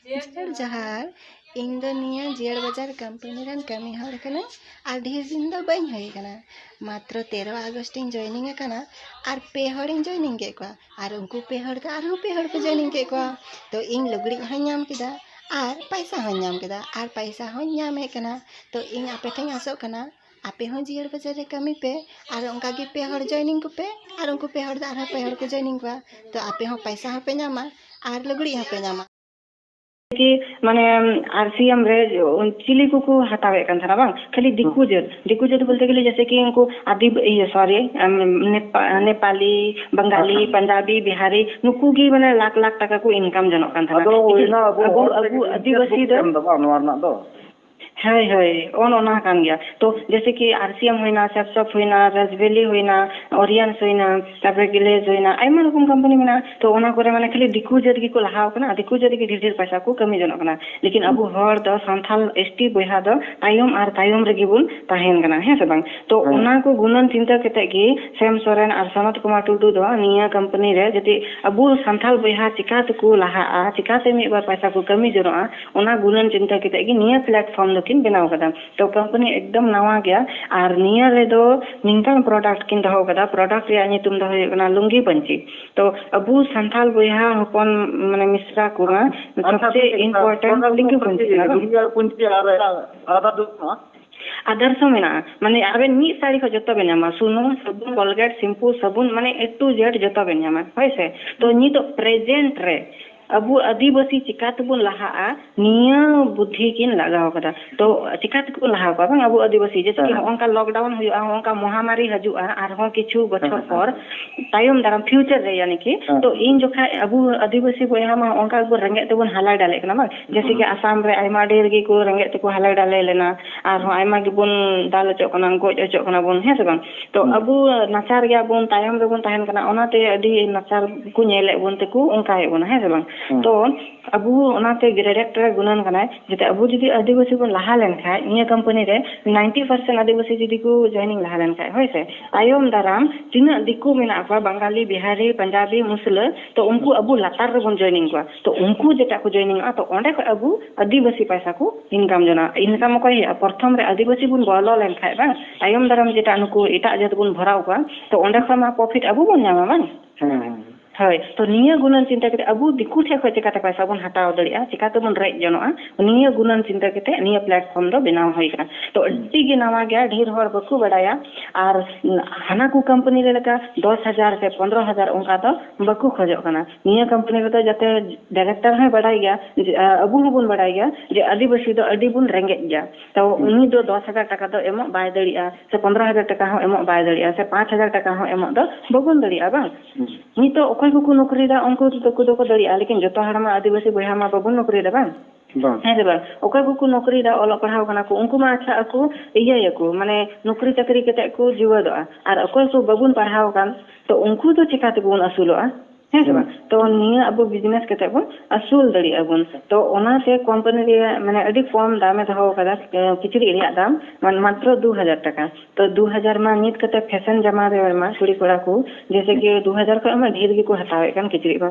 mister ᱡᱚᱦᱟᱨ ᱤᱧ ᱫᱚ ᱱᱤᱭᱟᱹ ᱡᱤᱭᱟᱹᱲ ᱵᱟᱡᱟᱨ ᱠᱳᱢᱯᱟᱱᱤ ᱨᱮᱱ ᱠᱟᱹᱢᱤ ᱦᱚᱲ ᱠᱟᱹᱱᱟᱹᱧ ᱟᱨ ᱰᱷᱮᱨ ᱫᱤᱱ ᱫᱚ ᱵᱟᱹᱧ ᱦᱩᱭ ᱟᱠᱟᱱᱟ ᱢᱟᱛᱨᱚ ᱛᱮᱨᱚ ᱟᱜᱚᱥᱴ ᱤᱧ ᱡᱚᱭᱮᱱᱤᱝ ᱟᱠᱟᱱᱟ ᱟᱨ ᱯᱮ ᱦᱚᱲᱤᱧ ᱡᱚᱭᱮᱱᱤᱝ ᱠᱮᱫ ᱠᱚᱣᱟ ᱟᱨ ᱩᱱᱠᱩ ᱯᱮ ᱦᱚᱲ ᱫᱚ ᱟᱨᱦᱚᱸ ᱯᱮ ᱦᱚᱲ ᱠᱚ ᱡᱚᱭᱮᱱᱤᱝ ᱠᱮᱫ ᱠᱚᱣᱟ ᱛᱚ ᱤᱧ ᱞᱩᱜᱽᱲᱤᱡ ᱦᱚᱸᱧ ᱧᱟᱢ ᱠᱮᱫᱟ ᱟᱨ ᱯᱚᱭᱥᱟ ᱦᱚᱸᱧ ᱧᱟᱢ ᱠᱮᱫᱟ ᱟᱨ ᱯᱚᱭᱥᱟ ᱦᱚᱸᱧ ᱧᱟᱢᱮᱫ ᱠᱟᱱᱟ ᱛᱚ ᱤᱧ ᱟᱯᱮ ᱴᱷᱮᱱᱤᱧ ᱟᱥᱚᱜ ᱠᱟᱱᱟ ᱟᱯᱮ ᱦᱚᱸ ᱡᱤᱭᱟᱹᱲ ᱵᱟᱡᱟᱨ ᱨᱮ ᱠᱟᱹᱢᱤ ᱯᱮ ᱟᱨ ᱚᱱᱠᱟ ᱜᱮ ᱯᱮ ᱦᱚᱲ ᱡᱚᱭᱮᱱᱤᱝ ᱠᱚᱯᱮ ᱟᱨ ᱩᱱᱠᱩ ᱯᱮ ᱦᱚᱲ ᱫᱚ ᱟᱨᱦᱚᱸ ᱯᱮ ᱦᱚᱲ ᱠᱚ ᱡᱚᱭᱮᱱᱤᱝ ᱠᱚᱣᱟ ᱛᱚ ᱟᱯᱮ ᱦᱚᱸ ᱯᱚᱭᱥᱟ ᱦᱚᱸ ᱯᱮ ᱧᱟᱢᱟ ᱟᱨ ᱞᱩᱜᱽᱲᱤᱡ ᱦᱚᱸ ᱯᱮ ᱧᱟᱢᱟ ᱠᱤ ᱢᱟᱱᱮ ᱟᱨ ᱥᱤ ᱮᱢ ᱨᱮ ᱪᱤᱞᱤ ᱠᱚᱠᱚ ᱦᱟᱛᱟᱣᱮᱫ ᱠᱟᱱ ᱛᱟᱦᱮᱱᱟ ᱵᱟᱝ ᱠᱷᱟᱹᱞᱤ ᱫᱤᱠᱩ ᱡᱟᱹᱛ ᱫᱤᱠᱩ ᱡᱟᱹᱛ ᱵᱚᱞᱛᱮ ᱜᱮᱞᱮ ᱡᱮᱭᱥᱮ ᱠᱤ ᱩᱱᱠᱩ ᱟᱫᱤ ᱤᱭᱟᱹ ᱥᱚᱨᱤ ᱱᱮᱯᱟᱞᱤ ᱵᱟᱝᱜᱟᱞᱤ ᱯᱟᱧᱡᱟᱵᱤ ᱵᱤᱦᱟᱨᱤ ᱱᱩᱠᱩ ᱜᱮ ᱢᱟᱱᱮ ᱞᱟᱠᱷ ᱞᱟᱠᱷ ᱴᱟᱠᱟ ᱠᱚ ᱤᱱᱠᱟᱢ ᱡᱚᱱᱚᱜ ᱠᱟᱱ ᱛᱟᱦᱮᱱᱟ ᱟᱫᱚ ᱚᱱᱟ ᱟᱵᱚ ᱟᱵᱚ ᱟᱹᱫᱤᱵᱟᱹᱥᱤ ᱫᱚ ᱱᱚᱣᱟ ᱨᱮᱱᱟᱜ ᱫᱚ ᱦᱳᱭ ᱦᱳᱭ ᱚᱱ ᱚᱱᱟ ᱠᱟᱱ ᱜᱮᱭᱟ ᱛᱚ ᱡᱮᱭᱥᱮ ᱠᱤ ᱟᱨ ᱥᱤ ᱮᱢ ᱦᱩᱭᱱᱟ ᱥᱟᱛᱥᱟᱯ ᱦᱩᱭᱱᱟ ᱨᱟᱡᱽᱵᱷᱮᱞᱤ ᱦᱩᱭᱱᱟ ᱚᱨᱤᱭᱟᱱᱥ ᱦᱩᱭᱱᱟ ᱛᱟᱯᱚᱨᱮ ᱜᱤᱞᱮᱡᱽ ᱦᱩᱭᱱᱟ ᱟᱭᱢᱟ ᱨᱚᱠᱚᱢ ᱠᱳᱢᱯᱟᱱᱤ ᱢᱮᱱᱟᱜᱼᱟ ᱛᱚ ᱚᱱᱟ ᱠᱚᱨᱮ ᱢᱟᱱᱮ ᱠᱷᱟᱹᱞᱤ ᱫᱤᱠᱩ ᱡᱟᱹᱛ ᱜᱮᱠᱚ ᱞᱟᱦᱟᱣ ᱠᱟᱱᱟ ᱟᱨ ᱫᱤᱠᱩ ᱡᱟᱹᱛ ᱜᱮ ᱰᱷᱮᱨ ᱰᱷᱮᱨ ᱯᱚᱭᱥᱟ ᱠᱚ ᱠᱟᱹᱢᱤ ᱡᱚᱱᱚᱜ ᱠᱟᱱᱟ ᱞᱮᱠᱤᱱ ᱟᱵᱚ ᱦᱚᱲ ᱫᱚ ᱥᱟᱱᱛᱟᱞ ᱮᱥ ᱴᱤ ᱵᱚᱭᱦᱟ ᱫᱚ ᱛᱟᱭᱚᱢ ᱟᱨ ᱛᱟᱭᱚᱢ ᱨᱮᱜᱮ ᱵᱚᱱ ᱛᱟᱦᱮᱱ ᱠᱟᱱᱟ ᱦᱮᱸ ᱥᱮ ᱵᱟᱝ ᱛᱚ ᱚᱱᱟ ᱠᱚ ᱜᱩᱱᱟᱹᱱ ᱪᱤᱱᱛᱟᱹ ᱠᱟᱛᱮ ᱜᱮ ᱥᱮᱢ ᱥᱚᱨᱮᱱ ᱟᱨ ᱥᱚᱱᱚᱛ ᱠᱩᱢᱟᱨ ᱴᱩᱰᱩ ᱫᱚ ᱱᱤᱭᱟᱹ ᱠᱳᱢᱯᱟᱱᱤ ᱨᱮ ᱡᱩᱫᱤ ᱟᱵᱚ ᱥᱟᱱᱛᱟᱞ ᱵᱚᱭᱦᱟ ᱪᱤᱠᱟᱹ ᱛᱮᱠᱚ ᱞᱟᱦᱟᱜᱼᱟ ᱪᱤᱠᱟᱹᱛᱮ ᱢᱤᱫ ᱵᱟᱨ ᱯᱚᱭᱥᱟ ᱠᱚ ᱠᱟᱹᱢᱤ ᱡᱚᱱᱚᱜᱼᱟ ᱚᱱᱟ ᱜᱩᱱᱟᱹᱱ ᱪᱤᱱᱛᱟᱹ ᱠᱟᱛᱮ ᱜᱮ ᱱᱤᱭᱟᱹ ᱯᱞᱟᱴᱯᱷᱚᱨᱢ ᱫᱚᱠᱤᱱ ᱵᱮᱱᱟᱣ ᱟᱠᱟᱫᱟ ᱛᱚ ᱠᱚᱢᱯᱟᱱᱤ ᱮᱠᱫᱚᱢ ᱱᱟᱣᱟ ᱜᱮᱭᱟ ᱟᱨ ᱱᱤᱭᱟᱹ ᱨᱮᱫᱚ ᱱᱤᱝᱠᱟᱱ ᱯᱨᱚᱰᱟᱠᱴ ᱠᱤᱱ ᱫᱚᱦᱚ ᱟᱠᱟᱫᱟ ᱯᱨᱚᱰᱟᱠᱴ ᱨᱮᱭᱟᱜ ᱧᱩᱛᱩᱢ ᱫᱚ ᱦᱩᱭᱩᱜ ᱠᱟᱱᱟ ᱞᱩᱝᱜᱤ ᱯᱟᱹᱧᱪᱤ ᱛᱚ ᱟᱵᱚ ᱥᱟᱱᱛᱟᱲ ᱵᱚᱭᱦᱟ ᱦᱚᱯᱚᱱ ᱢᱟᱱᱮ ᱢᱤᱥᱨᱟ ᱠᱚ ᱥᱚᱵᱪᱮ ᱤᱢᱯᱚᱨᱴᱮᱱᱴ ᱞᱩᱝᱜᱤ ᱯᱟᱹᱧᱪᱤ ᱠᱟᱱᱟ ᱵᱟᱝ ᱞᱩᱝᱜᱤ ᱟᱨ ᱯᱟᱹᱧᱪᱤ ᱟᱨ ᱟᱞᱟᱫᱟ ᱫᱚ ᱵᱟᱹᱱᱩᱜᱼᱟ ᱟᱫᱟᱨᱥ ᱦᱚᱸ ᱢᱮᱱᱟᱜᱼᱟ ᱢᱟᱱᱮ ᱟᱵᱮᱱ ᱢᱤᱫ ᱥᱟᱹᱲᱤ ᱠᱷᱚᱱ ᱡᱚᱛᱚ ᱵᱮᱱ ᱧᱟᱢᱟ ᱥᱩᱱᱩᱢ ᱥᱟᱵᱚᱱ ᱠᱚᱞᱜᱮᱴ ᱥᱮᱢᱯᱩ ᱥᱟᱵᱚᱱ ᱢᱟᱱᱮ ᱮ ᱴᱩ ᱡᱮᱰ ᱡᱚᱛᱚ ᱵᱮᱱ ᱧᱟᱢᱟ ᱦᱳᱭᱥᱮ ᱛᱚ ᱱᱤᱛᱚᱜ ᱯᱨᱮᱡᱮᱱᱴ ᱨᱮ ᱟᱵᱚ ᱟᱹᱫᱤᱵᱟᱹᱥᱤ ᱪᱮᱠᱟ ᱛᱮᱵᱚᱱ ᱞᱟᱦᱟᱜᱼᱟ ᱱᱤᱭᱟᱹ ᱵᱩᱫᱽᱫᱷᱤ ᱠᱤᱱ ᱞᱟᱜᱟᱣ ᱠᱟᱫᱟ ᱛᱚ ᱪᱮᱠᱟ ᱛᱮᱠᱚ ᱞᱟᱦᱟ ᱠᱚᱣᱟ ᱵᱟᱝ ᱟᱵᱚ ᱟᱹᱫᱤᱵᱟᱹᱥᱤ ᱡᱮᱭᱥᱮ ᱠᱤ ᱦᱚᱸᱜᱼᱚᱝᱠᱟ ᱞᱚᱠᱰᱟᱣᱩᱱ ᱦᱩᱭᱩᱜᱼᱟ ᱦᱚᱸᱜᱼᱚᱝᱠᱟ ᱢᱚᱦᱟᱢᱟᱨᱤ ᱦᱤᱡᱩᱜᱼᱟ ᱟᱨᱦᱚᱸ ᱠᱤᱪᱷᱩ ᱵᱚᱪᱷᱚᱨ ᱯᱚᱨ ᱛᱟᱭᱚᱢ ᱫᱟᱨᱟᱢ ᱯᱷᱤᱭᱩᱪᱟᱨ ᱨᱮ ᱭᱟᱱᱤ ᱠᱤ ᱛᱚ ᱤᱧ ᱡᱚᱠᱷᱟᱡ ᱟᱵᱚ ᱟᱹᱫᱤᱵᱟᱹᱥᱤ ᱵᱚᱭᱦᱟ ᱢᱟ ᱦᱚᱸᱜᱼᱚᱝᱠᱟ ᱜᱮᱵᱚᱱ ᱨᱮᱸᱜᱮᱡ ᱛᱮᱵᱚᱱ ᱦᱟᱞᱮ ᱰᱟᱞᱮᱜ ᱠᱟᱱᱟ ᱵᱟᱝ ᱡᱮᱭᱥᱮ ᱠᱤ ᱟᱥᱟᱢ ᱨᱮ ᱟᱭᱢᱟ ᱰᱷᱮᱨ ᱜᱮᱠᱚ ᱨᱮᱸᱜᱮᱡ ᱛᱮᱠᱚ ᱦᱟᱞᱮ ᱰᱟᱞᱮ ᱞᱮᱱᱟ ᱟᱨᱦᱚᱸ ᱟᱭᱢᱟ ᱜᱮᱵᱚᱱ ᱫᱟᱞ ᱦᱚᱪᱚᱜ ᱠᱟᱱᱟ ᱜᱚᱡ ᱦᱚᱪᱚᱜ ᱠᱟᱱᱟ ᱵᱚᱱ ᱦᱮᱸ ᱥᱮ ᱵᱟᱝ ᱛᱚ ᱟᱵᱚ ᱱᱟᱪᱟᱨ ᱜᱮᱭᱟᱵᱚᱱ ᱛᱟᱭᱚᱢ ᱨᱮᱵᱚᱱ ᱛᱟᱦᱮᱱ ᱠᱟᱱᱟ ᱚᱱᱟᱛᱮ ᱟᱹᱰᱤ ᱱᱟᱪᱟᱨ ᱠᱚ ᱧᱮᱞᱮᱫ ᱵᱚᱱ ᱛᱮᱠᱚ ᱚᱱᱠᱟᱭᱮᱫ ᱵᱚᱱᱟ ᱦᱮᱸ ᱥᱮ ᱵᱟᱝ ᱛᱚ ᱟᱵᱚ ᱚᱱᱟᱛᱮ ᱰᱤᱨᱮᱠᱴᱚᱨ ᱮ ᱜᱩᱱᱟᱹᱱ ᱠᱟᱱᱟᱭ ᱡᱟᱛᱮ ᱟᱵᱚ ᱡᱩᱫᱤ ᱟᱹᱫᱤᱵᱟᱹᱥᱤ ᱵᱚᱱ ᱞᱟᱦᱟ ᱞᱮᱱᱠᱷᱟᱱ ᱱᱤᱭᱟᱹ ᱠᱳᱢᱯᱟᱱᱤ ᱨᱮ ᱱᱟᱭᱤᱱᱴᱤ ᱯᱟᱨᱥᱮᱱ ᱟᱹᱫᱤᱵᱟᱹᱥᱤ ᱡᱩᱫᱤ ᱠᱚ ᱡᱚᱭᱮᱱᱤᱝ ᱞᱟᱦᱟ ᱞᱮᱱᱠᱷᱟᱱ ᱦᱳᱭ ᱥᱮ ᱛᱟᱭᱚᱢ ᱫᱟᱨᱟᱢ ᱛᱤᱱᱟᱹᱜ ᱫᱤᱠᱩ ᱢᱮᱱᱟᱜ ᱠᱚᱣᱟ ᱵᱟᱝᱜᱟᱞᱤ ᱵᱤᱦᱟᱨᱤ ᱯᱟᱧᱡᱟᱵᱤ ᱢᱩᱥᱞᱟᱹ ᱛᱚ ᱩᱱᱠᱩ ᱟᱵᱚ ᱞᱟᱛᱟᱨ ᱨᱮᱵᱚᱱ ᱡᱚᱭᱮᱱᱤᱝ ᱠᱚᱣᱟ ᱛᱚ ᱩᱱᱠᱩ ᱡᱮᱴᱟ ᱠᱚ ᱡᱚᱭᱮᱱᱤᱝᱚᱜᱼᱟ ᱛᱚ ᱚᱸᱰᱮ ᱠᱷᱚᱱ ᱟᱵᱚ ᱟᱹᱫᱤᱵᱟᱹᱥᱤ ᱯᱚᱭᱥᱟ ᱠᱚ ᱤᱱᱠᱟᱢ ᱡᱚᱱᱟᱜᱼᱟ ᱤᱱᱠᱟᱢ ᱚᱠᱚᱭ ᱦᱩᱭᱩᱜᱼᱟ ᱯᱨᱚᱛᱷᱚᱢ ᱨᱮ ᱟᱹᱫᱤᱵᱟᱹᱥᱤ ᱵᱚᱱ ᱵᱚᱞᱚ ᱞᱮᱱᱠᱷᱟᱱ ᱵᱟᱝ ᱛᱟᱭᱚᱢ ᱫᱟᱨᱟᱢ ᱡᱮᱴᱟ ᱱᱩᱠᱩ ᱮᱴᱟᱜ ᱡᱟᱹᱛ ᱵᱚᱱ ᱵᱷᱚᱨᱟᱣ ᱠᱚᱣᱟ ᱛᱚ ᱚᱸᱰᱮ ᱠᱷᱚᱱ ᱢᱟ ᱯᱨᱚᱯᱷᱤᱴ ᱟᱵᱚ ᱵᱚᱱ ᱧᱟᱢᱟ ᱵᱟᱝ ᱦᱳᱭ ᱛᱚ ᱱᱤᱭᱟᱹ ᱜᱩᱱᱟᱹᱱ ᱪᱤᱱᱛᱟᱹ ᱠᱟᱛᱮ ᱟᱵᱚ ᱫᱤᱠᱩ ᱴᱷᱮᱱ ᱠᱷᱚᱱ ᱪᱤᱠᱟᱹᱛᱮ ᱯᱚᱭᱥᱟ ᱵᱚᱱ ᱦᱟᱛᱟᱣ ᱫᱟᱲᱮᱭᱟᱜᱼᱟ ᱪᱤᱠᱟᱹ ᱛᱮᱵᱚᱱ ᱨᱮᱡ ᱡᱚᱱᱚᱜᱼᱟ ᱱᱤᱭᱟᱹ ᱜᱩᱱᱟᱹᱱ ᱪᱤᱱᱛᱟᱹ ᱠᱟᱛᱮ ᱱᱤᱭᱟᱹ ᱯᱞᱟᱴᱯᱷᱚᱨᱢ ᱫᱚ ᱵᱮᱱᱟᱣ ᱦᱩᱭ ᱟᱠᱟᱱᱟ ᱛᱚ ᱟᱹᱰᱤ ᱜᱮ ᱱᱟᱣᱟ ᱜᱮᱭᱟ ᱰᱷᱮᱨ ᱦᱚᱲ ᱵᱟᱠᱚ ᱵᱟᱰᱟᱭᱟ ᱟᱨ ᱦᱟᱱᱟ ᱠᱚ ᱠᱳᱢᱯᱟᱱᱤ ᱨᱮ ᱞᱮᱠᱟ ᱫᱚᱥ ᱦᱟᱡᱟᱨ ᱥᱮ ᱯᱚᱱᱨᱚ ᱦᱟᱡᱟᱨ ᱚᱱᱠᱟ ᱫᱚ ᱵᱟᱠᱚ ᱠᱷᱚᱡᱚᱜ ᱠᱟᱱᱟ ᱱᱤᱭᱟᱹ ᱠᱟᱢᱯᱟᱱᱤ ᱨᱮᱫᱚ ᱡᱟᱛᱮ ᱰᱟᱭᱨᱮᱠᱴᱚᱨ ᱦᱚᱸᱭ ᱵᱟᱰᱟᱭ ᱜᱮᱭᱟ ᱡᱮ ᱟᱵᱚ ᱦᱚᱸᱵᱚᱱ ᱵᱟᱰᱟᱭ ᱜᱮᱭᱟ ᱡᱮ ᱟᱹᱫᱤᱵᱟᱹᱥᱤ ᱫᱚ ᱟᱹᱰᱤ ᱵᱚᱱ ᱨᱮᱸᱜᱮᱡ ᱜᱮᱭᱟ ᱛᱚ ᱩᱱᱤ ᱫᱚ ᱫᱚᱥ ᱦᱟᱡᱟᱨ ᱴᱟᱠᱟ ᱫᱚ ᱮᱢᱚᱜ ᱵᱟᱭ ᱫᱟᱲᱮᱭᱟᱜᱼᱟ ᱥᱮ ᱯᱚᱱᱫᱽᱨᱚ ᱦᱟᱡᱟᱨ ᱴᱟᱠᱟ ᱦᱚᱸ ᱮᱢᱚᱜ ᱵᱟᱭ ᱫᱟᱲᱮᱭᱟᱜᱼᱟ ᱥᱮ ᱯᱟᱸᱪ ᱦᱟᱡᱟᱨ ᱴᱟᱠᱟ ᱦᱚᱸ ᱮᱢᱚᱜ ᱫᱚ ᱵᱟᱵᱚᱱ ᱫᱟᱲᱮᱭᱟᱜᱼᱟ ᱵᱟᱝ ᱱᱤᱛᱚᱜ ᱚᱠᱚᱭ ᱠᱚᱠᱚ ᱱᱚᱠᱨᱤᱭᱮᱫᱟ ᱩᱱᱠᱩ ᱫᱚᱠᱚ ᱫᱟᱲᱮᱭᱟᱜᱼᱟ ᱞᱮᱠᱤᱱ ᱡᱚᱛᱚ ᱦᱚᱲ ᱢᱟ ᱟᱹᱫᱤᱵᱟᱹᱥᱤ ᱵᱚᱭᱦᱟ ᱢᱟ ᱵᱟᱵᱚᱱ ᱱᱚᱠᱨᱤᱭᱮᱫᱟ ᱵᱟᱝ ᱵᱟᱝ ᱦᱮᱸ ᱥᱮ ᱵᱟᱝ ᱚᱠᱚᱭ ᱠᱚᱠᱚ ᱱᱚᱠᱨᱤᱭᱮᱫᱟ ᱚᱞᱚᱜ ᱯᱟᱲᱦᱟᱣ ᱠᱟᱱᱟ ᱠᱚ ᱩᱱᱠᱩ ᱢᱟ ᱟᱪᱪᱷᱟ ᱟᱠᱚ ᱤᱭᱟᱹᱭᱟᱠᱚ ᱢᱟᱱᱮ ᱱᱚᱠᱨᱤ ᱪᱟᱹᱠᱨᱤ ᱠᱟᱛᱮᱫ ᱠᱚ ᱡᱤᱣᱮᱫᱚᱜᱼᱟ ᱟᱨ ᱚᱠᱚᱭ ᱠᱚ ᱵᱟᱵᱚᱱ ᱯᱟᱲᱦᱟᱣ ᱟᱠᱟᱱ ᱛᱚ ᱩᱱᱠᱩ ᱫᱚ ᱪᱤᱠᱟ ᱛᱮᱵᱚᱱ ᱟᱹᱥᱩᱞᱚᱜᱼᱟ ᱦᱮᱸ ᱥᱮ ᱵᱟᱝ ᱛᱚ ᱱᱤᱭᱟᱹ ᱟᱵᱚ ᱵᱤᱡᱽᱱᱮᱥ ᱠᱟᱛᱮᱫ ᱵᱚᱱ ᱟᱹᱥᱩᱞ ᱫᱟᱲᱮᱭᱟᱜᱼᱟ ᱵᱚᱱ ᱛᱚ ᱚᱱᱟᱛᱮ ᱠᱳᱢᱯᱟᱱᱤ ᱨᱮᱭᱟᱜ ᱢᱟᱱᱮ ᱟᱹᱰᱤ ᱠᱚᱢ ᱫᱟᱢᱮ ᱫᱚᱦᱚ ᱟᱠᱟᱫᱟ ᱠᱤᱪᱨᱤᱡ ᱨᱮᱭᱟᱜ ᱫᱟᱢ ᱢᱟᱱᱮ ᱢᱟᱛᱨᱚ ᱫᱩ ᱦᱟᱡᱟᱨ ᱴᱟᱠᱟ ᱛᱚ ᱫᱩ ᱦᱟᱡᱟᱨ ᱢᱟ ᱱᱤᱛ ᱠᱟᱛᱮᱫ ᱯᱷᱮᱥᱚᱱ ᱡᱟᱢᱟ ᱨᱮ ᱢᱟ ᱠᱩᱲᱤ ᱠᱚᱲᱟ ᱠᱚ ᱡᱮᱭᱥᱮ ᱠᱤ ᱫᱩ ᱦᱟᱡᱟᱨ ᱠᱷᱚᱱ ᱢᱟ ᱰᱷᱮᱨ ᱜᱮᱠᱚ ᱦᱟᱛᱟᱣᱮᱫ ᱠᱟᱱ ᱠᱤᱪᱨᱤᱡ ᱢᱟ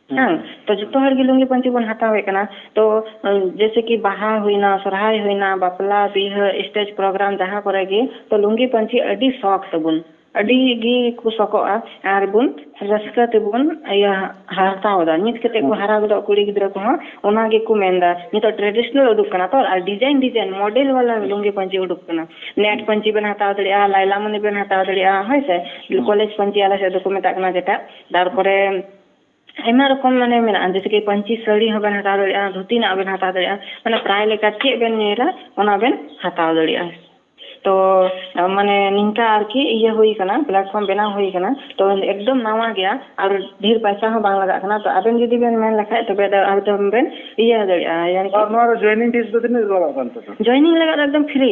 ᱦᱮᱸ ᱛᱚ ᱡᱚᱛᱚ ᱦᱚᱲ ᱜᱮ ᱞᱩᱝᱜᱤ ᱯᱟᱹᱧᱪᱤ ᱵᱚᱱ ᱦᱟᱛᱟᱣᱮᱫ ᱠᱟᱱᱟ ᱛᱚ ᱡᱮᱭᱥᱮ ᱠᱤ ᱵᱟᱦᱟ ᱦᱩᱭᱱᱟ ᱥᱚᱨᱦᱟᱭ ᱦᱩᱭᱱᱟ ᱵᱟᱯᱞᱟ ᱵᱤᱦᱟᱹ ᱥᱴᱮᱡᱽ ᱯᱨᱳᱜᱨᱟᱢ ᱡᱟᱦᱟᱸ ᱠᱚᱨᱮ ᱜᱮ ᱛᱚ ᱞᱩᱝᱜᱤ ᱯᱟᱹᱧᱪᱤ ᱟᱹᱰᱤ ᱥᱚᱠ ᱛᱟᱵᱚᱱ ᱟᱹᱰᱤ ᱜᱮ ᱠᱚ ᱥᱚᱠᱚᱜᱼᱟ ᱟᱨ ᱵᱚᱱ ᱨᱟᱹᱥᱠᱟᱹ ᱛᱮᱵᱚᱱ ᱤᱭᱟᱹ ᱦᱟᱛᱟᱣ ᱮᱫᱟ ᱱᱤᱛ ᱠᱟᱛᱮ ᱠᱚ ᱦᱟᱨᱟ ᱜᱚᱫᱚᱜ ᱠᱩᱲᱤ ᱜᱤᱫᱽᱨᱟᱹ ᱠᱚᱦᱚᱸ ᱚᱱᱟ ᱜᱮᱠᱚ ᱢᱮᱱᱫᱟ ᱱᱤᱛᱚᱜ ᱴᱨᱮᱰᱤᱥᱚᱱᱟᱞ ᱩᱰᱩᱠ ᱠᱟᱱᱟ ᱛᱚ ᱟᱨ ᱰᱤᱡᱟᱭᱤᱱ ᱰᱤᱡᱟᱭᱤᱱ ᱢᱚᱰᱮᱞ ᱵᱟᱞᱟ ᱞᱩᱝᱜᱤ ᱯᱟᱹᱧᱪᱤ ᱩᱰᱩᱠ ᱠᱟᱱᱟ ᱱᱮᱴ ᱯᱟᱹᱧᱪᱤ ᱵᱮᱱ ᱦᱟᱛᱟᱣ ᱫᱟᱲᱮᱭᱟᱜᱼᱟ ᱞᱟᱭᱞᱟᱢᱚᱱᱤ ᱵᱮᱱ ᱦᱟᱛᱟᱣ ᱫᱟᱲᱮᱭᱟᱜᱼᱟ ᱦᱳᱭ ᱥᱮ ᱠᱚᱞᱮᱡᱽ ᱯᱟᱹᱧᱪᱤ ᱟᱞᱮ ᱥᱮᱫ ᱫᱚᱠᱚ ᱢᱮᱛᱟᱜ ᱠᱟᱱᱟ ᱡᱮᱴᱟ ᱛᱟᱨᱯᱚᱨᱮ ᱟᱭᱢᱟ ᱨᱚᱠᱚᱢ ᱢᱟᱱᱮ ᱢᱮᱱᱟᱜᱼᱟ ᱡᱮᱭᱥᱮ ᱠᱤ ᱯᱟᱹᱧᱪᱤ ᱥᱟᱹᱲᱤ ᱦᱚᱸᱵᱮᱱ ᱦᱟᱛᱟᱣ ᱫᱟᱲᱮᱭᱟᱜᱼᱟ ᱫᱷᱩᱛᱤ ᱨᱮᱱᱟᱜ ᱦᱚᱸᱵᱮᱱ ᱦᱟᱛᱟᱣ ᱫᱟᱲᱮᱭᱟᱜᱼᱟ ᱢᱟᱱᱮ ᱯᱨᱟᱭ ᱞᱮᱠᱟ ᱪᱮᱫ ᱵᱮᱱ ᱧᱮᱞᱟ ᱚᱱᱟ ᱵᱮᱱ ᱦᱟᱛᱟᱣ ᱫᱟᱲᱮᱭᱟᱜᱼᱟ ᱛᱚ ᱢᱟᱱᱮ ᱱᱤᱝᱠᱟ ᱟᱨᱠᱤ ᱤᱭᱟᱹ ᱦᱩᱭ ᱠᱟᱱᱟ ᱯᱞᱟᱴᱯᱷᱚᱨᱚᱢ ᱵᱮᱱᱟᱣ ᱦᱩᱭ ᱠᱟᱱᱟ ᱛᱚ ᱮᱠᱫᱚᱢ ᱱᱟᱣᱟ ᱜᱮᱭᱟ ᱟᱨ ᱰᱷᱮᱨ ᱯᱟᱭᱥᱟ ᱦᱚᱸ ᱵᱟᱝ ᱞᱟᱜᱟᱜ ᱠᱟᱱᱟ ᱛᱚ ᱟᱵᱮᱱ ᱡᱩᱫᱤ ᱵᱮᱱ ᱢᱮᱱ ᱞᱮᱠᱷᱟᱡ ᱛᱚᱵᱮ ᱫᱚ ᱮᱠᱫᱚᱢ ᱵᱮᱱ ᱤᱭᱟᱹ ᱫᱟᱲᱮᱭᱟᱜᱼᱟ ᱟᱨ ᱱᱚᱣᱟ ᱨᱮ ᱡᱚᱭᱮᱱᱤᱝ ᱯᱷᱤᱥ ᱫᱚ ᱛᱤᱱᱟᱹᱜ ᱞᱟᱜᱟᱜ ᱠᱟᱱ ᱛᱮ ᱡᱚᱭᱮᱱᱤᱝ ᱞᱟᱜᱟᱜ ᱫᱚ ᱮᱠᱫᱚᱢ ᱯᱷᱨᱤ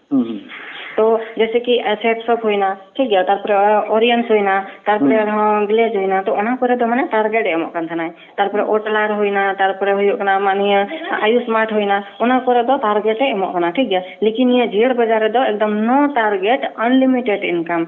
ᱛᱚ ᱡᱮᱥᱮ ᱠᱤ ᱥᱮᱯ ᱥᱚᱯ ᱦᱩᱭᱱᱟ ᱴᱷᱤᱠ ᱜᱮᱭᱟ ᱛᱟᱨᱯᱚᱨᱮ ᱚᱨᱤᱭᱟᱱᱥ ᱦᱩᱭᱱᱟ ᱛᱟᱨᱯᱚᱨᱮ ᱟᱨᱦᱚᱸ ᱜᱞᱮᱡᱽ ᱦᱩᱭᱱᱟ ᱛᱚ ᱚᱱᱟ ᱠᱚᱨᱮ ᱫᱚ ᱢᱟᱱᱮ ᱴᱟᱨᱜᱮᱴ ᱮ ᱮᱢᱚᱜ ᱠᱟᱱ ᱛᱟᱦᱮᱱᱟᱭ ᱛᱟᱨᱯᱚᱨᱮ ᱳᱴᱞᱟᱨ ᱦᱩᱭᱱᱟ ᱛᱟᱨᱯᱚᱨᱮ ᱦᱩᱭᱩᱜ ᱠᱟᱱᱟ ᱟᱢᱟᱜ ᱱᱤᱭᱟᱹ ᱟᱭᱩᱥᱢᱟᱨᱴ ᱦᱩᱭᱱᱟ ᱚᱱᱟ ᱠᱚᱨᱮ ᱫᱚ ᱴᱟᱨᱜᱮᱴ ᱮ ᱮᱢᱚᱜ ᱠᱟᱱᱟ ᱴᱷᱤᱠ ᱜᱮᱭᱟ ᱞᱮᱠᱤᱱ ᱱᱤᱭᱟᱹ ᱡᱤᱭᱟᱹᱲ ᱵᱟᱡᱟᱨ ᱨᱮᱫᱚ ᱮᱠᱫᱚᱢ ᱱᱳ ᱴᱟᱨᱜᱮᱴ ᱟᱱᱞᱤᱢᱤᱴᱮᱰ ᱤᱱᱠᱟᱢ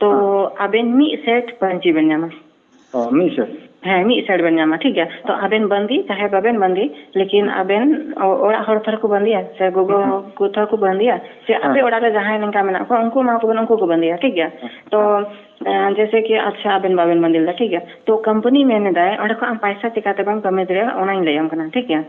ᱛᱚ ᱟᱵᱮᱱ ᱢᱤᱫ ᱥᱮᱴ ᱯᱟᱹᱧᱪᱤ ᱵᱮᱱ ᱧᱟᱢᱟ ᱚ ᱢᱤᱫ ᱥᱮᱴ ᱦᱮᱸ ᱢᱤᱫ ᱥᱮᱴ ᱵᱮᱱ ᱧᱟᱢᱟ ᱴᱷᱤᱠ ᱜᱮᱭᱟ ᱛᱚ ᱟᱵᱮᱱ ᱵᱟᱸᱫᱮ ᱪᱟᱦᱮ ᱵᱟᱵᱮᱱ ᱵᱟᱸᱫᱮ ᱞᱮᱠᱤᱱ ᱟᱵᱮᱱ ᱚᱲᱟᱜ ᱦᱚᱲ ᱛᱷᱚᱨ ᱠᱚ ᱵᱟᱸᱫᱮᱭᱟ ᱥᱮ ᱜᱚᱜᱚ ᱠᱚ ᱛᱷᱚᱨ ᱠᱚ ᱵᱟᱸᱫᱮᱭᱟ ᱥᱮ ᱟᱯᱮ ᱚᱲᱟᱜ ᱨᱮ ᱡᱟᱦᱟᱸᱭ ᱱᱚᱝᱠᱟ ᱢᱮᱱᱟᱜ ᱠᱚᱣᱟ ᱩᱱᱠᱩ ᱮᱢᱟ ᱠᱚ ᱵᱮᱱ ᱩᱱᱠᱩ ᱠᱚ ᱵᱟᱸᱫᱮᱭᱟ ᱴᱷᱤᱠ ᱜᱮᱭᱟ ᱛᱚ ᱡᱮᱭᱥᱮ ᱠᱤ ᱟᱪᱪᱷᱟ ᱟᱵᱮᱱ ᱵᱟᱵᱮᱱ ᱵᱟᱸᱫᱮ ᱞᱮᱫᱟ ᱴᱷᱤᱠ ᱜᱮᱭᱟ ᱛᱚ ᱠᱳᱢᱯᱟᱱᱤ ᱢᱮᱱ ᱮᱫᱟᱭ ᱚᱸᱰᱮ ᱠᱷᱚᱱ ᱟᱢ ᱯᱚᱭᱥᱟ ᱪᱤᱠᱟᱹ ᱛᱮ ᱵᱟᱢ ᱠᱟᱹᱢᱟᱹᱣ ᱫᱟᱲᱮᱭᱟᱜᱼᱟ ᱚᱱᱟᱧ ᱞᱟᱹᱭᱟᱢ ᱠᱟᱱᱟ ᱴᱷᱤᱠ ᱜᱮᱭᱟ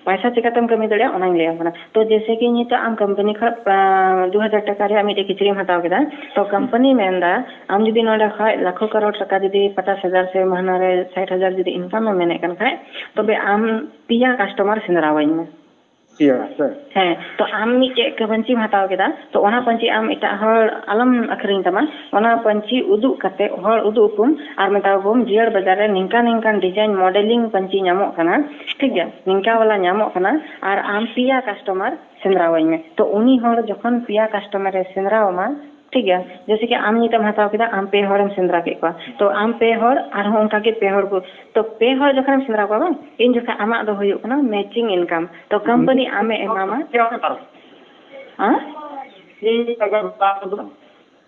ᱯᱟᱭᱥᱟ ᱪᱤᱠᱟᱹᱛᱮᱢ ᱠᱟᱹᱢᱤ ᱫᱟᱲᱮᱭᱟᱜᱼᱟ ᱚᱱᱟᱧ ᱞᱟᱹᱭᱟᱢ ᱠᱟᱱᱟ ᱛᱚ ᱡᱮᱭᱥᱮ ᱠᱤ ᱱᱤᱛᱚᱜ ᱟᱢ ᱠᱳᱢᱯᱟᱱᱤ ᱠᱷᱚᱱ ᱫᱩ ᱦᱟᱡᱟᱨ ᱴᱟᱠᱟ ᱨᱮᱭᱟᱜ ᱢᱤᱫᱴᱮᱱ ᱠᱤᱪᱨᱤᱡᱼᱮᱢ ᱦᱟᱛᱟᱣ ᱠᱮᱫᱟ ᱛᱚ ᱠᱳᱢᱯᱟᱱᱤᱭ ᱢᱮᱱᱫᱟ ᱟᱢ ᱡᱩᱫᱤ ᱱᱚᱸᱰᱮ ᱠᱷᱚᱱ ᱞᱟᱠᱷᱚ ᱠᱟᱨᱳᱲ ᱴᱟᱠᱟ ᱡᱩᱫᱤ ᱯᱚᱪᱟᱥ ᱦᱟᱡᱟᱨ ᱥᱮ ᱢᱟᱹᱦᱱᱟᱹ ᱨᱮ ᱥᱟᱴ ᱦᱟᱡᱟᱨ ᱡᱩᱫᱤ ᱤᱱᱠᱟᱢᱮᱢ ᱢᱮᱱᱮᱫ ᱠᱟᱱ ᱠᱷᱟᱱ ᱛᱚᱵᱮ ᱟᱢ ᱯᱮᱭᱟ ᱠᱟᱥᱴᱚᱢᱟᱨ ᱥᱮᱸᱫᱽᱨᱟᱣᱟᱹᱧ ᱢᱮ ᱯᱮᱭᱟ ᱥᱮ ᱦᱮᱸ ᱛᱚ ᱟᱢ ᱢᱤᱫᱴᱮᱡ ᱯᱟᱹᱧᱪᱤᱢ ᱦᱟᱛᱟᱣ ᱠᱮᱫᱟ ᱛᱚ ᱚᱱᱟ ᱯᱟᱹᱧᱪᱤ ᱟᱢ ᱮᱴᱟᱜ ᱦᱚᱲ ᱟᱞᱚᱢ ᱟᱹᱠᱷᱨᱤᱧ ᱛᱟᱢᱟ ᱚᱱᱟ ᱯᱟᱹᱧᱪᱤ ᱩᱫᱩᱜ ᱠᱟᱛᱮᱫ ᱦᱚᱲ ᱩᱫᱩᱜ ᱟᱠᱚᱢ ᱟᱨ ᱢᱮᱛᱟᱣᱟᱠᱚᱢ ᱡᱤᱭᱟᱹᱲ ᱵᱟᱡᱟᱨ ᱨᱮ ᱱᱤᱝᱠᱟᱹ ᱱᱤᱝᱠᱟᱹ ᱰᱤᱡᱟᱭᱤᱱ ᱢᱚᱰᱮᱞᱤᱝ ᱯᱟᱹᱧᱪᱤ ᱧᱟᱢᱚᱜ ᱠᱟᱱᱟ ᱴᱷᱤᱠ ᱜᱮᱭᱟ ᱱᱤᱝᱠᱟ ᱵᱟᱞᱟ ᱧᱟᱢᱚᱜ ᱠᱟᱱᱟ ᱟᱨ ᱟᱢ ᱯᱮᱭᱟ ᱠᱟᱥᱴᱚᱢᱟᱨ ᱥᱮᱸᱫᱽᱨᱟ ᱟᱹᱧ ᱢᱮ ᱛᱚ ᱩᱱᱤ ᱦᱚᱲ ᱡᱚᱠᱷᱚᱱ ᱯᱮᱭᱟ ᱠᱟᱥᱴᱚᱢᱟᱨ ᱮ ᱥᱮᱸᱫᱽᱨᱟ ᱟᱢᱟ ᱴᱷᱤᱠ ᱜᱮᱭᱟ ᱡᱮᱭᱥᱮ ᱠᱤ ᱟᱢ ᱱᱤᱛᱚᱜ ᱮᱢ ᱦᱟᱛᱟᱣ ᱠᱮᱫᱟ ᱟᱢ ᱯᱮ ᱦᱚᱲᱮᱢ ᱥᱮᱸᱫᱽᱨᱟ ᱠᱮᱫ ᱠᱚᱣᱟ ᱛᱚ ᱟᱢ ᱯᱮ ᱦᱚᱲ ᱟᱨᱦᱚᱸ ᱚᱱᱠᱟ ᱜᱮ ᱯᱮ ᱦᱚᱲ ᱠᱚ ᱛᱚ ᱯᱮ ᱦᱚᱲ ᱡᱚᱠᱷᱚᱱᱮᱢ ᱥᱮᱸᱫᱽᱨᱟ ᱠᱚᱣᱟ ᱵᱟᱝ ᱤᱱ ᱡᱚᱠᱷᱚᱱ ᱟᱢᱟᱜ ᱫᱚ ᱦᱩᱭᱩᱜ ᱠᱟᱱᱟ ᱢᱮᱪᱤᱝ ᱤᱱᱠᱟᱢ ᱛᱚ ᱠᱳᱢᱯᱟᱱᱤ ᱟᱢᱮ ᱮᱢᱟᱢᱟ ᱦᱮᱸ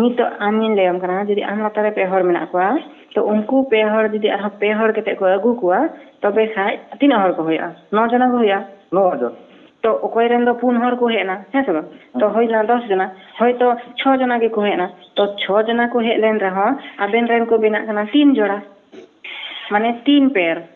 ᱱᱤᱛᱚᱜ ᱟᱢᱤᱧ ᱞᱟᱹᱭᱟᱢ ᱠᱟᱱᱟ ᱡᱩᱫᱤ ᱟᱢ ᱞᱟᱛᱟᱨ ᱨᱮ ᱯᱮ ᱦᱚᱲ ᱢᱮᱱᱟᱜ ᱠᱚᱣᱟ ᱛᱚ ᱩᱱᱠᱩ ᱯᱮ ᱦᱚᱲ ᱡᱩᱫᱤ ᱟᱨᱦᱚᱸ ᱯᱮ ᱦᱚᱲ ᱠᱟᱛᱮ ᱠᱚ ᱟᱹᱜᱩ ᱠᱚᱣᱟ ᱛᱚᱵᱮ ᱠᱷᱟᱡ ᱛᱤᱱᱟᱹᱜ ᱦᱚᱲ ᱠᱚ ᱦᱩᱭᱩᱜᱼᱟ ᱱᱚ ᱡᱚᱱᱟ ᱠᱚ ᱦᱩᱭᱩᱜᱼᱟ ᱱᱚ ᱡᱚᱱ ᱛᱚ ᱚᱠᱚᱭ ᱨᱮᱱ ᱫᱚ ᱯᱩᱱ ᱦᱚᱲ ᱠᱚ ᱦᱮᱡ ᱮᱱᱟ ᱦᱮᱸ ᱥᱮ ᱵᱟᱝ ᱛᱚ ᱦᱩᱭᱱᱟ ᱫᱚᱥ ᱡᱚᱱᱟ ᱦᱚᱭᱛᱚ ᱪᱷᱚ ᱡᱚᱱᱟ ᱜᱮᱠᱚ ᱦᱮᱡ ᱮᱱᱟ ᱛᱚ ᱪᱷᱚ ᱡᱚᱱᱟ ᱠᱚ ᱦᱮᱡ ᱞᱮᱱ ᱨᱮᱦᱚᱸ ᱟᱵᱮᱱ ᱨᱮᱱ ᱠᱚ ᱵᱮᱱᱟᱜ ᱠᱟᱱᱟ ᱛᱤᱱ ᱡᱚᱲᱟ ᱢᱟᱱᱮ ᱛᱤᱱ ᱯᱮᱭᱟᱨ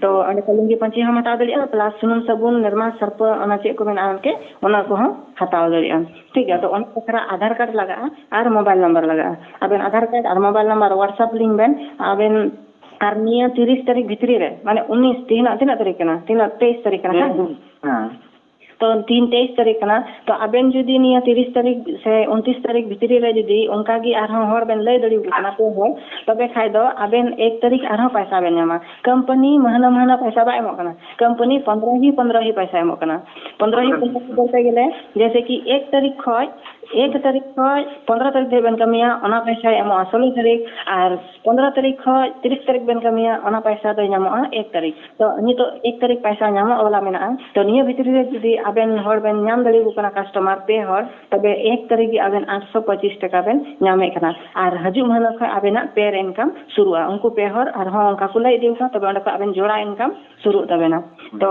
ᱛᱚ ᱚᱸᱰᱮ ᱠᱷᱚᱱ ᱞᱩᱝᱜᱤ ᱯᱟᱹᱧᱪᱤ ᱦᱚᱸᱢ ᱦᱟᱛᱟᱣ ᱫᱟᱲᱮᱭᱟᱜᱼᱟ ᱯᱞᱟᱥ ᱥᱩᱱᱩᱢ ᱥᱟᱵᱚᱱ ᱱᱤᱨᱢᱟ ᱥᱟᱨᱯᱷ ᱚᱱᱟ ᱪᱮᱫ ᱠᱚ ᱢᱮᱱᱟᱜᱼᱟ ᱮᱱᱛᱮ ᱚᱱᱟ ᱠᱚᱦᱚᱸ ᱦᱟᱛᱟᱣ ᱫᱟᱲᱮᱭᱟᱜᱼᱟᱢ ᱴᱷᱤᱠ ᱜᱮᱭᱟ ᱟᱫᱚ ᱚᱱᱟ ᱵᱟᱠᱷᱨᱟ ᱟᱫᱷᱟᱨ ᱠᱟᱨᱰ ᱞᱟᱜᱟᱜᱼᱟ ᱟᱨ ᱢᱳᱵᱟᱭᱤᱞ ᱱᱟᱢᱵᱟᱨ ᱞᱟᱜᱟᱜᱼᱟ ᱟᱵᱮᱱ ᱟᱫᱷᱟᱨ ᱠᱟᱨᱰ ᱟᱨ ᱢᱳᱵᱟᱭᱤᱞ ᱱᱟᱢᱵᱟᱨ ᱦᱳᱣᱟᱴᱥᱮᱯ ᱞᱤᱧ ᱵᱮᱱ ᱟᱵᱮᱱ ᱟᱨ ᱱᱤᱭᱟᱹ ᱛᱤᱨᱤᱥ ᱛᱟᱹᱨᱤᱠᱷ ᱵᱷᱤᱛᱨᱤ ᱨᱮ ᱢᱟᱱᱮ ᱩᱱᱤᱥ ᱛᱮᱦᱮᱧᱟᱜ ᱛᱤᱱᱟᱹᱜ ᱛᱟᱹᱨᱤᱠᱷ ᱠᱟᱱᱟ ᱛᱮᱦᱮᱧᱟᱜ ᱛᱮᱭᱤᱥ ᱛᱟᱹᱨᱤᱠᱷ ᱠᱟᱱᱟ ᱦᱮᱸ ᱛᱚ ᱛᱤᱦᱤᱧ ᱛᱮᱭᱤᱥ ᱛᱟᱹᱨᱤᱠᱷ ᱠᱟᱱᱟ ᱛᱚ ᱟᱵᱮᱱ ᱡᱩᱫᱤ ᱱᱤᱭᱟᱹ ᱛᱤᱨᱤᱥ ᱛᱟᱹᱨᱤᱠᱷ ᱥᱮ ᱩᱱᱛᱨᱤᱥ ᱛᱟᱹᱨᱤᱠᱷ ᱵᱷᱤᱛᱨᱤ ᱨᱮ ᱡᱩᱫᱤ ᱚᱱᱠᱟ ᱜᱮ ᱟᱨᱦᱚᱸ ᱦᱚᱲ ᱵᱮᱱ ᱞᱟᱹᱭ ᱫᱟᱲᱮ ᱟᱠᱚ ᱠᱟᱱᱟ ᱯᱮ ᱦᱚᱲ ᱛᱚᱵᱮ ᱠᱷᱟᱱ ᱫᱚ ᱟᱵᱮᱱ ᱮᱠ ᱛᱟᱹᱨᱤᱠᱷ ᱟᱨᱦᱚᱸ ᱯᱚᱭᱥᱟ ᱵᱮᱱ ᱧᱟᱢᱟ ᱠᱳᱢᱯᱟᱱᱤ ᱢᱟᱹᱦᱱᱟᱹ ᱢᱟᱹᱦᱱᱟᱹ ᱯᱚᱭᱥᱟ ᱵᱟᱭ ᱮᱢᱚᱜ ᱠᱟᱱᱟ ᱠᱳᱢᱯᱟᱱᱤ ᱯᱚᱸᱫᱽᱨᱚ ᱦᱤ ᱯᱚᱸᱫᱽᱨᱚ ᱦᱤ ᱯᱚᱭᱥᱟᱭ ᱮᱢᱚᱜ ᱠᱟᱱᱟ ᱯᱚᱸᱫᱽᱨᱚ ᱦᱤ ᱯᱚᱸᱫᱽᱨᱚ ᱦᱤ ᱵᱚᱞᱛᱮ ᱜᱮᱞᱮ ᱡᱮᱭᱥᱮ ᱠᱤ ᱮᱠ ᱛᱟᱹᱨᱤᱠᱷ ᱠᱷᱚᱱ ᱮᱠ ᱛᱟᱹᱨᱤᱠᱷ ᱠᱷᱚᱱ ᱯᱚᱸᱫᱽᱨᱚ ᱛᱟᱹᱨᱤᱠᱷ ᱫᱷᱟᱹᱵᱤᱡ ᱵᱮᱱ ᱠᱟᱹᱢᱤᱭᱟ ᱚᱱᱟ ᱯᱚᱭᱥᱟᱭ ᱮᱢᱚᱜᱼᱟ ᱥᱳᱞᱳ ᱛᱟᱹᱨᱤᱠᱷ ᱟᱨ ᱯᱚᱱᱫᱽᱨᱚ ᱛᱟᱹᱨᱤᱠᱷ ᱠᱷᱚᱱ ᱛᱤᱨᱤᱥ ᱛᱟᱹᱨᱤᱠᱷ ᱵᱮᱱ ᱠᱟᱹᱢᱤᱭᱟ ᱚᱱᱟ ᱯᱚᱭᱥᱟ ᱫᱚ ᱧᱟᱢᱚᱜᱼᱟ ᱮᱠ ᱛᱟᱹᱨᱤᱠᱷ ᱛᱚ ᱱᱤᱛᱚᱜ ᱮᱠ ᱛᱟᱹᱨᱤᱠᱷ ᱯᱚᱭᱥᱟ ᱧᱟᱢᱚᱜ ᱵᱟᱞᱟ ᱢᱮᱱᱟᱜᱼᱟ ᱛᱚ ᱱᱤᱭᱟᱹ ᱵᱷᱤᱛᱨᱤ ᱨᱮ ᱡᱩᱫᱤ ᱟᱵᱮᱱ ᱦᱚᱲ ᱵᱮᱱ ᱧᱟᱢ ᱫᱟᱲᱮᱭᱟᱠᱚ ᱠᱟᱱᱟ ᱠᱟᱥᱴᱚᱢᱟᱨ ᱯᱮ ᱦᱚᱲ ᱛᱚᱵᱮ ᱮᱠ ᱛᱟᱹᱨᱤᱠᱷ ᱜᱮ ᱟᱵᱮᱱ ᱟᱴᱥᱚ ᱯᱚᱸᱪᱤᱥ ᱴᱟᱠᱟ ᱵᱮᱱ ᱧᱟᱢᱮᱫ ᱠᱟᱱᱟ ᱟᱨ ᱦᱤᱡᱩᱜ ᱢᱟᱹᱦᱱᱟᱹ ᱠᱷᱚᱱ ᱟᱵᱮᱱᱟᱜ ᱯᱮ ᱨᱮ ᱤᱱᱠᱟᱢ ᱥᱩᱨᱩᱜᱼᱟ ᱩᱱᱠᱩ ᱯᱮ ᱦᱚᱲ ᱟᱨᱦᱚᱸ ᱚᱱᱠᱟ ᱠᱚ ᱞᱟᱹᱭ ᱤᱫᱤᱭᱟᱠᱚ ᱠᱷᱟᱱ ᱛᱚᱵᱮ ᱚᱸᱰᱮ ᱠᱷᱚᱱ ᱟᱵᱮᱱ ᱡᱚᱲᱟ ᱤᱱᱠᱟᱢ ᱥᱩᱨᱩᱜ ᱛᱟᱵᱮᱱᱟ ᱛᱚ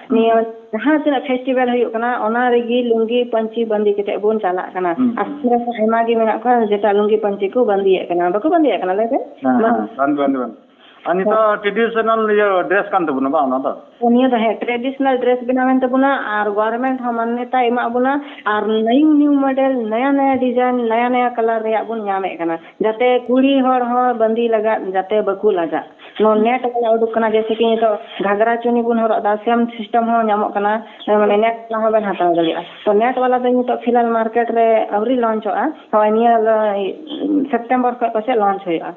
ᱱᱤᱭᱟᱹ ᱡᱟᱦᱟᱸ ᱛᱤᱱᱟᱹᱜ ᱯᱷᱮᱥᱴᱤᱵᱮᱞ ᱦᱩᱭᱩᱜ ᱠᱟᱱᱟ ᱚᱱᱟ ᱨᱮᱜᱮ ᱞᱩᱝᱜᱤ ᱯᱟᱹᱧᱪᱤ ᱵᱟᱸᱫᱮ ᱠᱟᱛᱮ ᱵᱚᱱ ᱪᱟᱞᱟᱜ ᱠᱟᱱᱟ ᱟᱨ ᱟᱭᱢᱟ ᱜᱮ ᱢᱮᱱᱟᱜ ᱠᱚᱣᱟ ᱡᱮᱴᱟ ᱞᱩᱝᱜᱤ ᱯᱟᱹᱧᱪᱤ ᱠᱚ ᱵᱟᱸᱫᱮᱭᱮᱫ ᱠᱟᱱᱟ ᱵᱟᱠᱚ ᱵᱟᱸᱫᱮᱭᱮᱫ ᱠᱟᱱᱟ ᱞᱟᱹᱭ ᱵᱮᱱ ᱵᱟᱸᱫᱮ ᱵᱟᱸᱫᱮ ᱵᱟᱸᱫᱮ ᱟᱨ ᱱᱤᱛᱚᱜ ᱴᱨᱮᱰᱤᱥᱚᱱᱟᱞ ᱤᱭᱟᱹ ᱰᱨᱮᱥ ᱠᱟᱱ ᱛᱟᱵᱚᱱᱟ ᱵᱟᱝ ᱚᱱᱟ ᱫᱚ ᱱᱤᱭᱟᱹ ᱫᱚ ᱦᱮᱸ ᱴᱨᱮᱰᱤᱥᱚᱱᱟᱞ ᱰᱨᱮᱥ ᱵᱮᱱᱟᱣᱮᱱ ᱛᱟᱵᱚᱱᱟ ᱟᱨ ᱜᱚᱵᱷᱚᱨᱱᱢᱮᱱᱴ ᱦᱚᱸ ᱢᱟᱱᱱᱚᱛᱟᱭ ᱮᱢᱟᱜ ᱵᱚᱱᱟ ᱟᱨ ᱱᱤᱭᱩ ᱱᱤᱭᱩ ᱢᱚᱰᱮᱞ ᱱᱟᱭᱟ ᱱᱟᱭᱟ ᱰᱤᱡᱟᱭᱤᱱ ᱱᱟᱭᱟ ᱱᱟᱭᱟ ᱠᱟᱞᱟᱨ ᱨᱮᱭᱟᱜ ᱵᱚᱱ ᱧᱟᱢᱮᱫ ᱠᱟᱱᱟ ᱡᱟᱛᱮ ᱠᱩᱲᱤ ᱦᱚᱲ ᱦᱚᱸ ᱵᱟᱸᱫᱤ ᱞᱟᱜᱟᱜ ᱡᱟᱛᱮ ᱵᱟᱠᱚ ᱞᱟᱜᱟᱜ ᱱᱚᱣᱟ ᱱᱮᱴ ᱵᱟᱞᱟ ᱩᱰᱩᱠ ᱠᱟᱱᱟ ᱡᱮᱭᱥᱮ ᱠᱤ ᱱᱤᱛᱚᱜ ᱜᱷᱟᱜᱽᱨᱟ ᱪᱩᱱᱤ ᱵᱚᱱ ᱦᱚᱨᱚᱜ ᱮᱫᱟ ᱥᱮᱢ ᱥᱤᱥᱴᱮᱢ ᱦᱚᱸ ᱧᱟᱢᱚᱜ ᱠᱟᱱᱟ ᱢᱟᱱᱮ ᱱᱮᱴ ᱵᱟᱞᱟ ᱦᱚᱸᱵᱮᱱ ᱦᱟᱛᱟᱣ ᱫᱟᱲᱮᱭᱟᱜᱼᱟ ᱛᱚ ᱱᱮᱴ ᱵᱟᱞᱟ ᱫᱚ ᱱᱤᱛᱚᱜ ᱯᱷᱤᱞᱦᱟᱞ ᱢᱟᱨᱠᱮᱴ ᱨᱮ ᱟᱹᱣᱨᱤ ᱞᱚᱧᱪᱚᱜᱼᱟ ᱱᱚᱜᱼᱚᱭ ᱱᱤᱭᱟᱹ ᱥᱮᱯᱴᱮᱢᱵᱚᱨ ᱠᱷᱚᱱ ᱯᱟᱥᱮᱡ ᱞᱚᱧᱪ ᱦᱩᱭᱩᱜᱼᱟ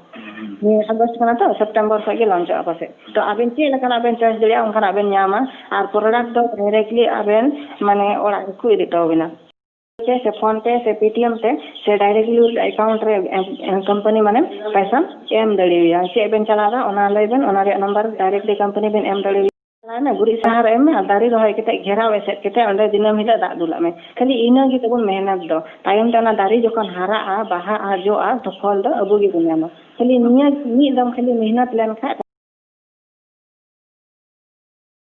ᱱᱤᱭᱟᱹ ᱟᱜᱚᱥᱴ ᱠᱟᱱᱟ ᱛᱚ ᱥᱮᱯᱴᱮᱢᱵᱚᱨ ᱠᱷᱚᱱ ᱜᱮ ᱞᱚᱧᱪᱚᱜᱼᱟ ᱯᱟᱥᱮᱡ ᱛᱚ ᱟᱵᱮᱱ ᱪᱮᱫ ᱞᱮᱠᱟᱱᱟᱜ ᱵᱮᱱ ᱪᱚᱭᱮᱥ ᱫᱟᱲᱮᱭᱟᱜᱼᱟ ᱚᱱᱠᱟᱱᱟᱜ ᱵᱮᱱ ᱧᱟᱢᱟ ᱟᱨ ᱯᱨᱚᱰᱟᱠᱴ ᱫᱚ ᱰᱟᱭᱨᱮᱠᱴᱞᱤ ᱟᱵᱮᱱ ᱢᱟᱱᱮ ᱚᱲᱟᱜ ᱜᱮᱠᱚ ᱤᱫᱤ ᱦᱚᱴᱚ ᱟᱵᱮᱱᱟ ᱛᱮ ᱥᱮ ᱯᱷᱳᱱ ᱛᱮ ᱥᱮ ᱯᱮᱴᱤᱮᱢ ᱛᱮ ᱥᱮ ᱰᱟᱭᱨᱮᱠᱴᱞᱤ ᱮᱠᱟᱣᱩᱱᱴ ᱨᱮ ᱠᱳᱢᱯᱟᱱᱤ ᱢᱟᱱᱮ ᱯᱚᱭᱥᱟᱢ ᱮᱢ ᱫᱟᱲᱮᱣᱟᱭᱟ ᱪᱮᱫ ᱵᱮᱱ ᱪᱟᱞᱟᱣᱫᱟ ᱚᱱᱟ ᱞᱟᱹᱭ ᱵᱮᱱ ᱚᱱᱟ ᱨᱮᱭᱟᱜ ᱱᱟᱢᱵᱟᱨ ᱰᱟᱭᱨᱮᱠᱴᱞᱤ ᱠᱳᱢᱯᱟᱱᱤ ᱵᱮᱱ ᱮᱢ ᱫᱟᱲᱮᱣᱟᱭᱟ ᱪᱟᱞᱟᱣ ᱮᱱᱟ ᱜᱩᱨᱤᱡ ᱥᱟᱦᱟᱨ ᱮᱢ ᱢᱮ ᱟᱨ ᱫᱟᱨᱮ ᱨᱚᱦᱚᱭ ᱠᱟᱛᱮ ᱜᱷᱮᱨᱟᱣ ᱮᱥᱮᱫ ᱠᱟᱛᱮ ᱚᱸᱰᱮ ᱫᱤᱱᱟᱹᱢ ᱦᱤᱞᱳᱜ ᱫᱟᱜ ᱫᱩᱞᱟᱜ ᱢᱮ ᱠᱷᱟᱹᱞᱤ ᱤᱱᱟᱹ ᱜᱮ ᱛᱟᱵᱚᱱ ᱢᱮᱦᱱᱚᱛ ᱫᱚ ᱛᱟᱭᱚᱢ ᱛᱮ ᱚᱱᱟ ᱫᱟᱨᱮ ᱡᱚᱠᱷᱚᱱ ᱦᱟᱨᱟᱜᱼᱟ ᱵᱟᱦᱟᱜᱼᱟ ᱡᱚᱜᱼᱟ ᱛᱚ ᱯᱷᱚᱞ ᱫᱚ ᱟᱵᱚ ᱜᱮᱵᱚᱱ ᱧᱟᱢᱟ ᱠᱷᱟᱹᱞᱤ ᱱᱤᱭᱟᱹ ᱢᱤᱫ ᱫᱚᱢ ᱠᱷᱟᱹᱞᱤ ᱢᱮᱦᱱᱚᱛ ᱞᱮᱱ ᱠᱷᱟᱱ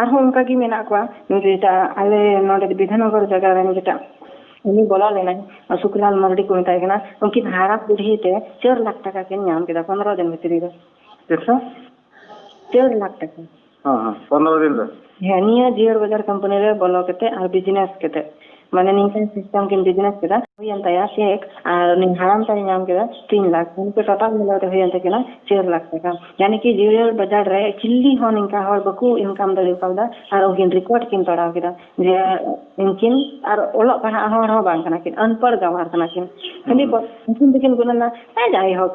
ᱟᱨᱦᱚᱸ ᱚᱱᱠᱟ ᱜᱮ ᱢᱮᱱᱟᱜ ᱠᱚᱣᱟ ᱡᱮᱴᱟ ᱟᱞᱮ ᱱᱚᱰᱮ ᱵᱤᱫᱷᱟᱱᱚᱜᱚᱨ ᱡᱟᱭᱜᱟ ᱨᱮᱱ ᱡᱮᱴᱟ ᱩᱱᱤ ᱵᱚᱞᱚ ᱞᱮᱱᱟᱭ ᱥᱩᱠᱞᱟᱞ ᱢᱟᱨᱰᱤ ᱠᱚ ᱢᱮᱛᱟᱭ ᱠᱟᱱᱟ ᱩᱱᱠᱤᱱ ᱦᱟᱨᱟ ᱵᱩᱰᱷᱤ ᱛᱮ ᱪᱟᱨ ᱞᱟᱠᱷ ᱴᱟᱠᱟ ᱠᱤᱱ ᱧᱟᱢ ᱠᱮᱫᱟ ᱯᱚᱱᱨᱚ ᱫᱤᱱ ᱵᱷᱤᱛᱨᱤ ᱨᱮ ᱛᱤᱱᱥᱚ ᱪᱟᱨ ᱞᱟᱠᱷ ᱴᱟᱠᱟ ᱦᱮᱸ ᱦᱮᱸ ᱯᱚᱱᱨᱚ ᱫᱤᱱ ᱨᱮ ᱦᱮᱸ ᱱᱤᱭᱟᱹ ᱡᱤᱭᱟᱹᱲ ᱵᱟᱡᱟᱨ ᱠᱳᱢᱯᱟᱱᱤ ᱨᱮ ᱵᱚᱞᱚ ᱠᱟᱛᱮ ᱟᱨ ᱵᱤᱡᱽᱱᱮᱥ ᱠᱟᱛᱮ ᱢᱟᱱᱮ ᱱᱤᱝᱠᱟᱹᱱ ᱥᱤᱥᱴᱮᱢ ᱠᱤᱱ ᱵᱤᱡᱽᱱᱮᱥ ᱠᱮᱫᱟ ᱦᱩᱭᱮᱱ ᱛᱟᱭᱟ ᱪᱮᱠ ᱟᱨ ᱩᱱᱤ ᱦᱟᱲᱟᱢ ᱛᱟᱭ ᱧᱟᱢ ᱠᱮᱫᱟ ᱛᱤᱱ ᱞᱟᱠᱷ ᱩᱱᱠᱩ ᱴᱳᱴᱟᱞ ᱢᱤᱞᱟᱹᱣ ᱛᱮ ᱦᱩᱭᱮᱱ ᱛᱟᱹᱠᱤᱱᱟ ᱪᱟᱨ ᱞᱟᱠᱷ ᱴᱟᱠᱟ ᱭᱟᱱᱤ ᱠᱤ ᱡᱮᱨᱮᱲ ᱵᱟᱡᱟᱨ ᱨᱮ ᱪᱤᱞᱞᱤ ᱦᱚᱸ ᱱᱤᱝᱠᱟ ᱦᱚᱲ ᱵᱟᱠᱚ ᱤᱱᱠᱟᱢ ᱫᱟᱲᱮ ᱠᱟᱣᱫᱟ ᱟᱨ ᱩᱱᱠᱤᱱ ᱨᱮᱠᱚᱨᱰ ᱠᱤᱱ ᱯᱟᱲᱟᱣ ᱠᱮᱫᱟ ᱡᱮ ᱩᱱᱠᱤᱱ ᱟᱨ ᱚᱞᱚᱜ ᱯᱟᱲᱦᱟᱜ ᱦᱚᱲ ᱦᱚᱸ ᱵᱟᱝ ᱠᱟᱱᱟ ᱠᱤᱱ ᱟᱱᱯᱟᱲ ᱜᱟᱶᱟᱨ ᱠᱟᱱᱟ ᱠᱤᱱ ᱠᱷᱟᱹᱞᱤ ᱩᱱᱠᱤᱱ ᱫᱚᱠᱤᱱ ᱜᱩᱱᱟᱹᱱᱟ ᱡᱟᱭᱦᱳᱠ